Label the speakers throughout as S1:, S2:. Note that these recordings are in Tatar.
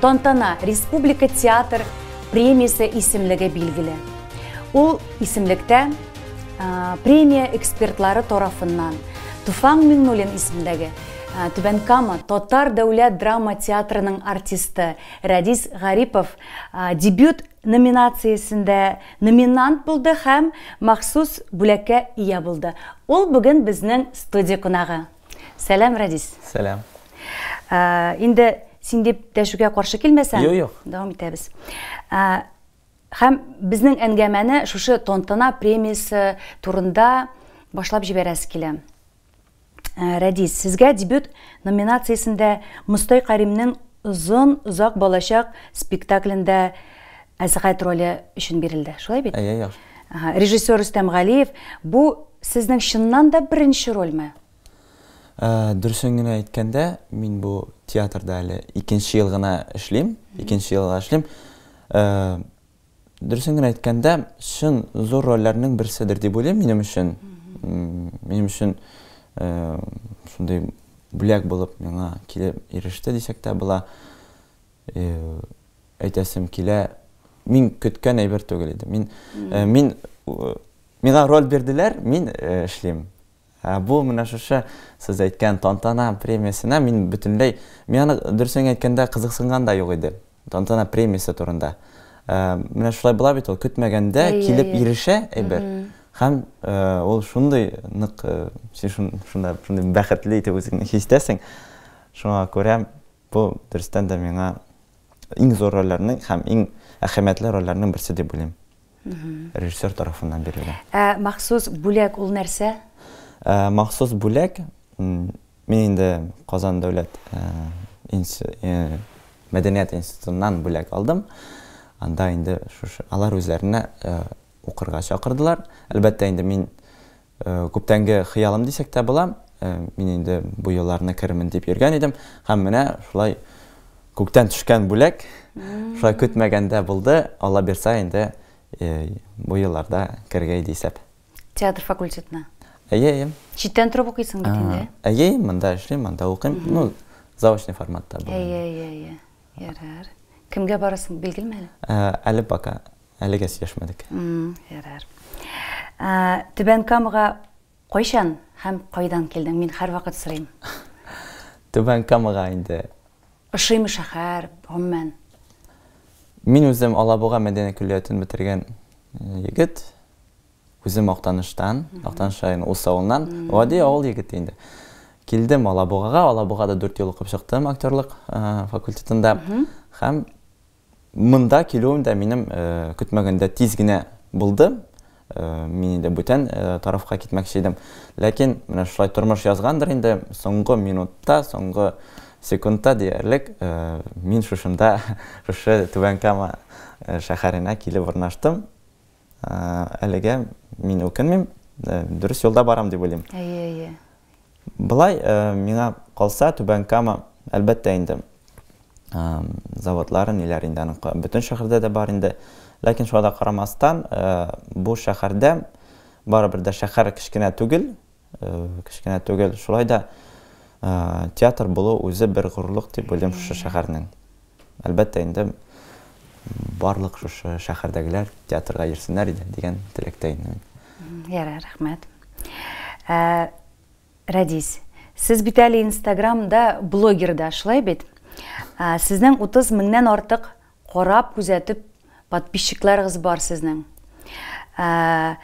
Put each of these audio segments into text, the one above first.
S1: Тантана Республика театр премиясе исемлеге билгеле. Ул исемлектә премия экспертлары тарафыннан Туфан Миңнуллин исемдәге Түбән Кама татар дәүләт драма театрының артисты Радис Гарипов дебют номинациясендә номинант булды һәм махсус бүләккә ия булды. Ул бүген безнең студия кунагы. Сәлам, Радис. Сәлам. Инде син дип дәшүгә каршы килмәсәң, юк, юк. Дәвам итәбез. Һәм безнең әңгәмәне шушы тантана премиясе турында башлап җибәрәсе килә. Ә, Рәдис, сезгә дебют номинациясендә Мостай Каримнең озын озак балачак спектаклендә Әсгать роле өчен бирелде, шулай бит? Әйе, яхшы. Ага,
S2: режиссер Рөстәм
S1: Галиев, бу сезнең чыннан да беренче рольме? Э,
S2: дөресен генә әйткәндә, мин бу театрда әле икенче ел гына эшлим, икенче елга эшлим. Э, дөресен генә әйткәндә, чын зур рольләрнең берседер дип уйлыйм минем өчен. Минем өчен э, шундый бүләк булып миңа килеп иреште дисәк тә була. Әйтәсем килә, мин көткән әйбер түгел иде. Мин, мин, миңа роль бирделәр, мин эшлим. Ә бу менә шушы сез әйткән тантана премиясенә мин бөтенләй, мин аны дөресен әйткәндә кызыксынган да юк иде. Тантана премиясе турында. Менә шулай була бит ул, көтмәгәндә килеп ирешә әйбер. Һәм ул шундый нык, син шунда шундый бәхетле итеп үзеңне хис итәсең. Шуңа күрә Бу, дөрестән дә, миңа иң зур рольләрнең һәм иң әһәмиятле рольләрнең берсе дип уйлыйм. Режиссер тарафыннан бирелгән. Ә махсус
S1: бүләк ул нәрсә? Махсус
S2: бүләк, мин инде Казан дәүләт мәдәният институтыннан бүләк алдым. Анда инде шушы алар үзләренә укырга чакырдылар. Әлбәттә инде мин Күптәнге хыялым дисәк тә була. Мин инде бу елларны керермен дип йөргән идем. Һәм менә шулай күктән төшкән бүләк, шулай көтмәгәндә булды. Алла бирса, инде бу елларда керергә иде исәп. Театр
S1: факультетына? Әйе, әйе.
S2: Читтән торып укыйсың
S1: бит инде? Әйе, монда эшлим,
S2: монда укыйм. Ну, заочный форматта булган. Әйе, әйе, әйе.
S1: Ярар. Кемгә барасың, билгелме әле? Әле пока.
S2: Әлегә сөйләшмәдек. Ярар.
S1: Түбән Камага кайчан һәм кайдан килдең? Мин һәрвакыт сорыйм. Түбән
S2: Камага инде. Ошыймы
S1: шәһәр, гомумән?
S2: Мин үзем Алабуга мәдәният көллиятен бетергән егет. Үзем Актаныштан, Актаныш районы Ус авылыннан, гади авыл егете инде. Килдем Алабугага, Алабугада дүрт ел укып чыктым актерлык факультетында. Һәм монда килүем дә минем көтмәгәндә тиз генә булды. Мин инде бүтән тарафка китмәкче идем. Ләкин менә шулай тормыш язгандыр инде, соңгы минутта, соңгы секундта диярлек мин шушында, шушы Түбән Кама шәһәренә килеп урнаштым. Әлегә мин үкенмим, дөрес юлда барам дип уйлыйм. Әйе, әйе. Былай миңа калса, Түбән Кама, әлбәттә инде, заводлары ниләр инде аның бөтен шәһәрдә дә бар инде. Ләкин шуңа да карамастан, бу шәһәрдә барыбер дә шәһәр кечкенә түгел, Кечкенә түгел. Шулай да театр булу үзе бер горурлык дип уйлыйм шушы шәһәрнең. Әлбәттә инде барлык шушы шәһәрдәгеләр театрга йөрсеннәр иде дигән теләктә инде мин. Ярар,
S1: рәхмәт. Ә, Радис, сез бит әле Инстаграмда блогер да, шулай бит? Сезнең 30 меңнән артык Карап, күзәтеп, подписчикларыгыз бар сезнең. Ә,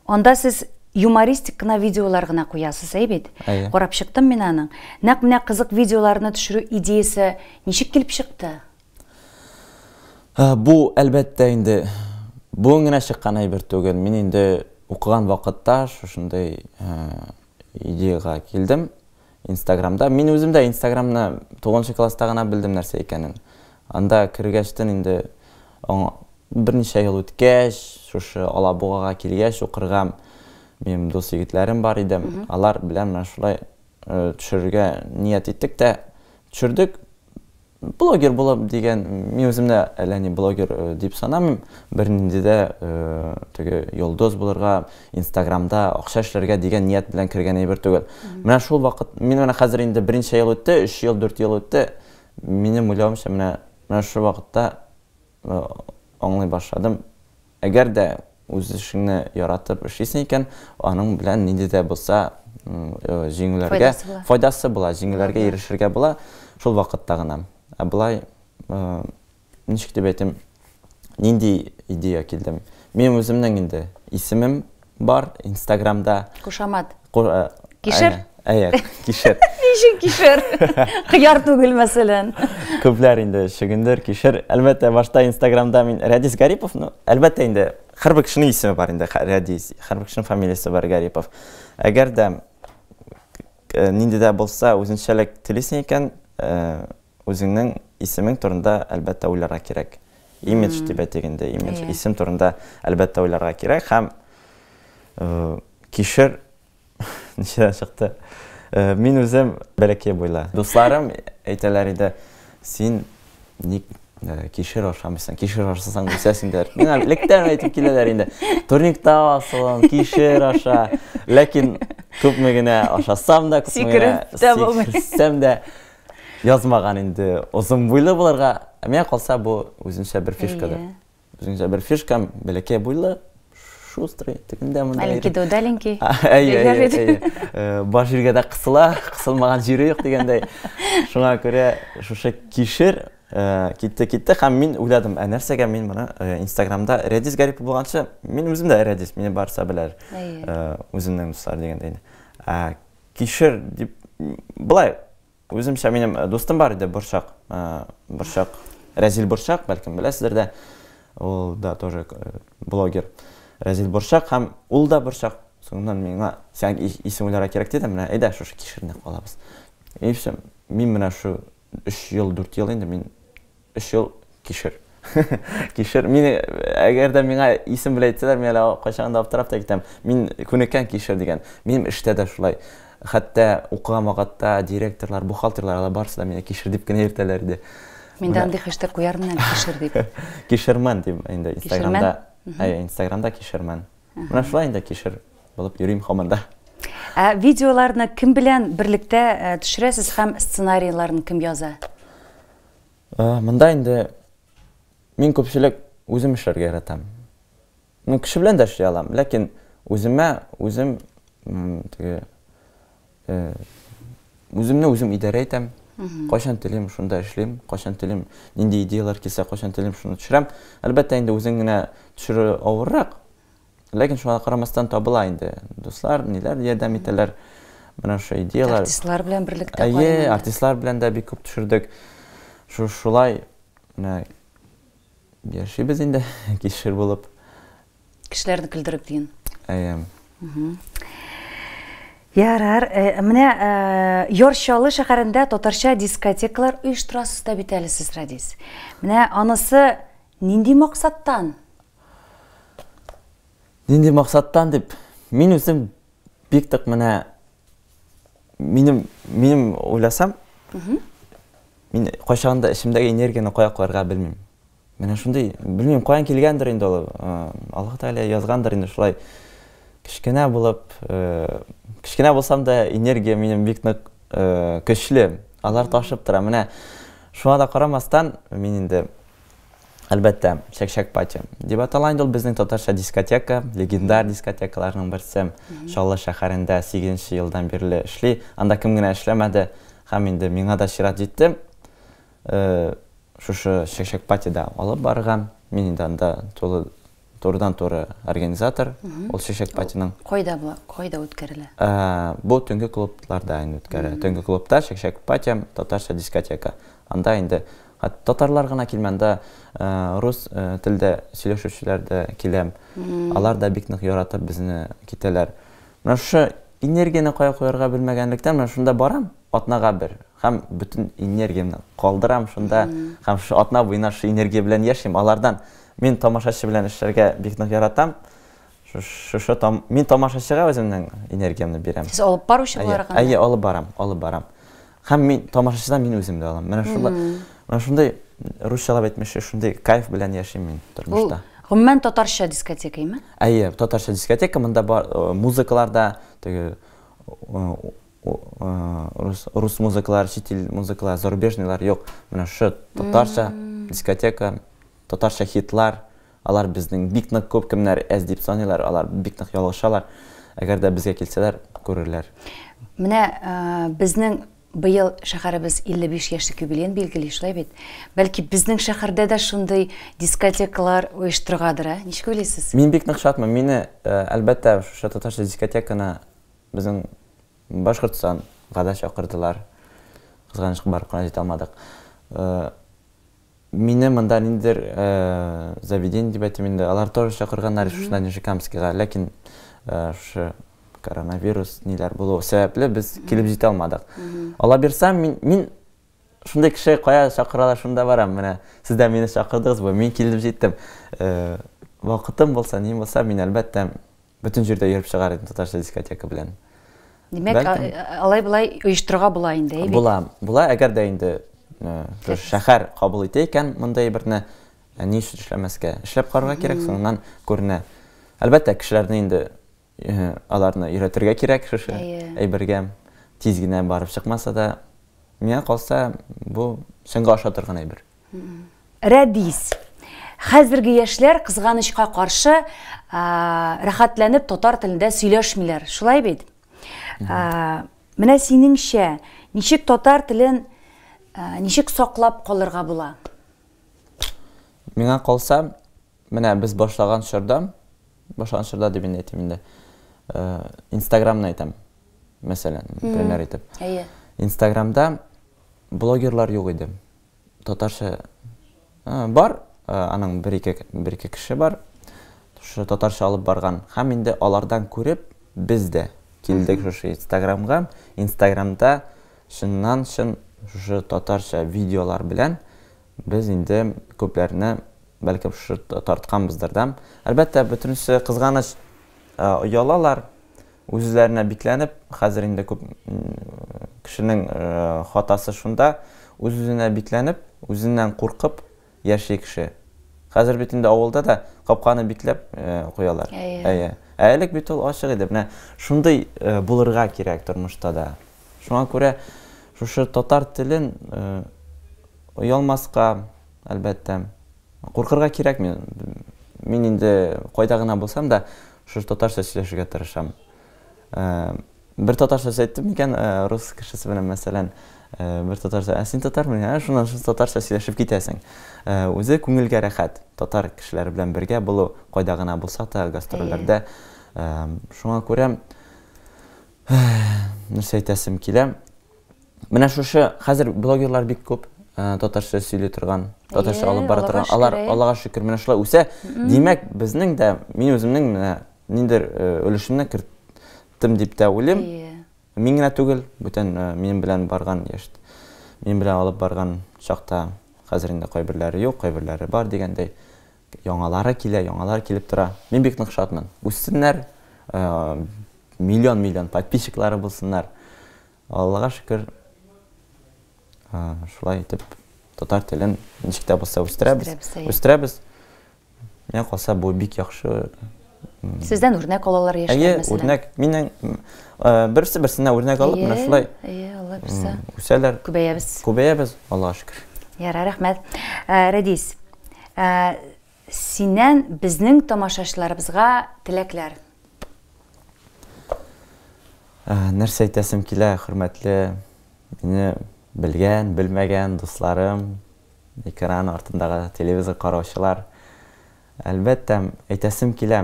S1: анда сез юмористик кына видеолар гына куясыз, әй бит? Әйе. Карап чыктым мин аның. Нәкъ менә кызык видеоларны төшерү идеясе ничек килеп чыкты? Ә,
S2: бу, әлбәттә, инде бүген генә чыккан әйбер түгел. Мин инде укыган вакытта шушындый ә, идеягә килдем. Инстаграмда, мин үзем дә инстаграмны тугызынчы класста гына белдем нәрсә икәнен. Анда кергәчтен инде аңа берничә ел үткәч, шушы Алабугага килгәч укырга минем дус егетләрем бар иде. Алар белән менә шулай төшерергә ният иттек тә төшердек. Блогер булып дигән, мин үземне әллә ни блогер дип санамыйм. Бернинди дә теге йолдыз булырга, Инстаграмда акча эшләргә дигән ният белән кергән әйбер түгел. Менә шул вакыт, мин менә хәзер инде берничә ел үтте, өч ел, дүрт ел үтте. Минем уйлавымча, менә, менә шул вакытта Аңлый башладым. Әгәр дә үз эшеңне яратып эшлисең икән, аның белән нинди дә булса җиңүләргә файдасы була, җиңүләргә ирешергә була, шул вакытта гына. Ә болай, ничек дип әйтим, нинди идея килде? Минем үземнең инде исемем Бар инстаграмда. Кушамат.
S1: Кишер? Әйе, кишер.
S2: Ничек кишер?
S1: Кыяр түгел, мәсәлән. Күпләр инде
S2: шөгендер, кишер. Әлбәттә, башта Инстаграмда мин Рәдис Гарипов, ну, әлбәттә инде һәрбер кешенең исеме бар инде, Рәдис, һәрбер кешенең фамилиясе бар Гарипов. Әгәр дә э, нинди дә булса үзенчәлек телисең икән, э, Үзеңнең исемең турында, әлбәттә, уйларга кирәк. Имидж дип әйтик инде, имидж. Исем турында, әлбәттә, уйларга кирәк һәм кишер ничәдән чыкты? Мин үзем бәләкәй буйлы. Дусларым әйтәләр иде, син ник кишер ашамыйсың, кишер ашасаң үсәсең диләр. Миңа электән әйтеп киләләр инде, турникта асылын, кишер аша. Ләкин күпме генә ашасам да, күпме генә сикерсәм дә, Язмаган инде озын буйлы булырга. Ә миңа калса, бу үзенчә бер фишкадыр. Әйе. Үзенчә бер фишка, бәләкәй буйлы, шустрый, тегендә монда. Маленький да удаленький.
S1: Әйе, әйе, әйе. Э,
S2: бар җиргә дә кысыла, кысылмаган җире юк дигәндәй. Шуңа күрә шушы кишер э, китте, китте һәм мин уйладым, ә нәрсәгә мин моны э, Инстаграмда Редис Гарипов булганчы, мин үзем дә Редис, мине барса беләр. Әйе. Үземнең дуслар дигәндәй. Ә Кишер дип былай үземчә минем э, дустым бар иде борчак э, борчак рәзил борчак бәлкем беләсездер дә ул да тоже э, блогер рәзил борчак һәм ул да борчак соңыннан миңа сән исем уйларга кирәк диде менә әйдә шушы кишерне кылабыз и все мин менә шу өч ел дүрт ел инде мин Өч ел кишер. Кишер. Мин, әгәр дә миңа исем белән әйтсәләр, мин әле кайчагын да аптырап та китәм. Мин күнеккән кишер дигән. Минем эштә дә шулай. Хәтта укыган вакытта директорлар, бухгалтерлар, алар барысы да мине кишер дип кенә йөртәләр иде. Мин дә андый хештег
S1: куярмын әле, кишер дип. Кишермен дип
S2: инде Инстаграмда. Әйе, Инстаграмда кишермен. Менә шулай инде кишер булып йөрим һаман да. Ә видеоларны
S1: кем белән берлектә төшерәсез һәм сценарийларын кем яза?
S2: Э, монда инде мин күпчелек үзем эшләргә яратам. Ну, кеше белән дә эшли алам, ләкин үземә үзем теге э, үземне үзем идарә итәм. Кайчан телим, шунда эшлим, кайчан телим, нинди идеялар килсә, кайчан телим, шуны төшерәм. Әлбәттә, инде үзең генә төшерү авыррак, Ләкин шуңа карамастан табыла инде дуслар, ниләр ярдәм итәләр. Менә шушы идеяләр. Артистлар белән берлектә
S1: кайнады. Әйе, артистлар белән дә бик күп
S2: төшердек. Шулай менә яшибез инде кишер булып. Кешеләрне
S1: көлдереп диген. Әйе. Ярар, э, менә э, Йорчалы шәһәрендә татарча дискотекалар оештырасыз да бит әле сез, Радис. Менә анысы нинди максаттан?
S2: Нинди максаттан дип, мин үзем бик тык менә минем минем уйласам, мин кайчан да эчемдәге энергияне кая куярга белмим. Менә шундый, белмим, каян килгәндер инде ул. Аллаһ Тәгалә язгандыр инде шулай. Кечкенә булып, кечкенә булсам да энергия минем бик нык көчле. Алар ташып тора. Менә шуңа да карамастан, мин инде Әлбәттә, Чәкчәк пати. Дип атала инде ул безнең татарча дискотека, легендар дискотекаларның берсе. Чаллы шәһәрендә 8 нче елдан бирле эшли. Анда кем генә эшләмәде. Һәм инде миңа да чират җитте шушы Чәкчәк патида алып барырга. Мин инде анда тулы турыдан туры организатор ул чәчәк патиның кайда була кайда
S1: үткәрелә ә, бу төнге
S2: клубларда инде үткәрелә төнге клубта чәчәк пати татарча дискотека анда инде татарлар гына килмәндә ә, рус ә, телдә сөйләшүчеләр дә килә алар да бик нык яратып безне китәләр менә шушы энергияне кая куярга белмәгәнлектән менә шунда барам атнага бер һәм бөтен энергиямне калдырам шунда һәм шушы атна буена шушы энергия белән яшим. Алардан мин тамашачы белән эшләргә бик нык яратам. Шушы там, мин тамашачыга үземнең энергиямне бирәм. Сез алып баручы буларак?
S1: Әйе, алып
S2: барам, алып барам. Һәм мин тамашачыдан мин үзем дә
S1: алам.
S2: Менә шулай, менә шундый русчалап әйтмешли, шундый кайф белән яшим мин тормышта. Гомумән татарча
S1: дискотека име? Әйе, татарча
S2: дискотека, монда бар музыкалар да, теге Рус музыкалар, чит ил музыкалар, зарубежныйлар юк. Менә шу татарча дискотека, татарча хитлар, алар безнең бик нык күп кемнәр әз дип саныйлар, алар бик нык ялгышалар. Әгәр дә безгә килсәләр, күрерләр. Менә
S1: безнең быел шәһәребез 55 яшьлек юбилеен билгели, шулай бит? Бәлки безнең шәһәрдә дә шундый дискотекалар оештыргадыр, ә? Ничек уйлыйсыз? Мин бик нык шатмын. Мине,
S2: әлбәттә, шушы татарча дискотеканы Безнең Башкортстан гада чакырдылар. Кызганычка барып кына җитә алмадык. Мине монда ниндидер заведение дип әйтим инде. Алар тоже чакырганнар шушында Нижекамскига, ләкин шушы коронавирус ниләр булу сәбәпле без килеп җитә алмадык. Алла бирса, мин, мин шундый кеше кая чакыралар, шунда барам. Менә сез дә мине чакырдыгыз бу, мин килеп җиттем. Вакытым булса, ни булса, мин әлбәттә Бөтен җирдә йөреп чыгар идем татарча дискотека белән. Димәк,
S1: Бәлкем... алай-болай оештырырга була инде, әйбит. Була, була, әгәр дә
S2: инде э, шәһәр кабул итә икән мондай берне, э, ни өчен эшләмәскә? Эшләп карарга кирәк, соңыннан күренә. Әлбәттә, кешеләрне инде э, аларны өйрәтергә кирәк шушы әйбергә. Тиз генә барып чыкмаса да, миңа калса, бу чынга аша торган әйбер. Рәдис.
S1: Хәзерге яшьләр кызганычка каршы рәхәтләнеп татар телендә сөйләшмиләр. Шулай бит? Менә синеңчә, ничек татар телен ничек саклап калырга була?
S2: Миңа калса, менә без башлаган чорда, башлаган чорда дип инде әйтим инде. Инстаграмны әйтәм. Мәсәлән, пример итеп. Әйе.
S1: Инстаграмда
S2: блогерлар юк иде. татарча бар, аның бер-ике бер-ике кеше бар. Шушы татарча алып барган. Һәм инде алардан күреп, без дә килдек шушы Инстаграмга. Инстаграмда чыннан-чын шушы татарча видеолар белән без инде күпләрне бәлкем шушы тартканбыздыр да. Әлбәттә, бөтенесе кызганыч оялалар, Үзләренә бикләнеп, хәзер инде күп кешенең хатасы шунда, үз-үзенә бикләнеп, үзеннән куркып яши кеше. Хәзер бит инде авылда да капканы бикләп куялар. Әйе. Ә элек бит ул ачык иде. Менә шундый булырга кирәк тормышта да. Шуңа күрә шушы татар телен оялмаска, әлбәттә. Куркырга кирәкми. Мин инде кайда гына булсам да, шушы татарча сөйләшергә тырышам. Бер татарча сүз әйттем микән, рус кешесе белән мәсәлән, бер татарча, ә син татармы? Ә шуннан шул татарча сөйләшеп китәсең. Үзе күңелгә рәхәт. Татар кешеләре белән бергә булу, кайда гына булсак та, гастрольләрдә. Шуңа күрә нәрсә әйтәсем килә? Менә шушы хәзер блогерлар бик күп, э, татарча сөйли торган, татарча алып бара торган. Алар Аллага шөкер менә шулай үсә. Димәк, безнең дә мин үземнең менә ниндер э, өлешемне керттем дип тә уйлыйм. Мин генә түгел, бүтән э, минем белән барган яшь минем белән алып барган чакта хәзер инде кайберләре юк, кайберләре бар дигәндәй яңалары килә, яңалар килеп тора. Мин бик нык шатмын. Үссеннәр, э, миллион-миллион подписчиклары булсыннар. Аллага шөкер, шулай итеп татар телен ничек тә булса үстерәбез. Үстерәбез. Менә калса бу бик яхшы. Сездән
S1: үрнәк алалар яшьләр мәсәлән. Үрнәк. Миннән
S2: берсе берсенә үрнәк алып, менә шулай. Әйе, Алла бирсә.
S1: Үсәләр. Күбәябез.
S2: Күбәябез,
S1: Аллага шөкер.
S2: Ярар, рәхмәт.
S1: Рәдис, Синнән безнең тамашачыларыбызга теләкләр.
S2: Нәрсә әйтәсем килә, хөрмәтле мине белгән, белмәгән дусларым, экран артындагы телевизор караучылар. Әлбәттә, әйтәсем килә,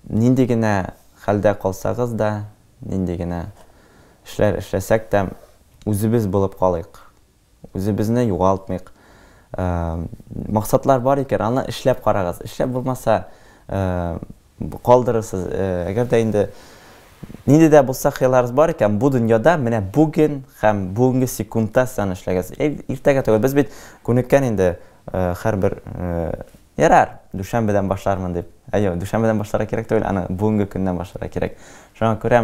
S2: нинди генә хәлдә калсагыз да, нинди генә эшләр эшләсәк тә, үзебез булып калыйк. Үзебезне югалтмыйк. Максатлар бар икән, аны эшләп карагыз. Эшләп булмаса, калдырырсыз. Әгәр дә инде нинди дә булса хыялларыгыз бар икән, бу дөньяда менә бүген һәм бүгенге секундта сез аны эшләгез. Иртәгә түгел, без бит күнеккән инде һәрбер ярар, дүшәмбедән башлармын дип. Әйе, дүшәмбедән башларга кирәк түгел, аны бүгенге көннән башларга кирәк. Шуңа күрә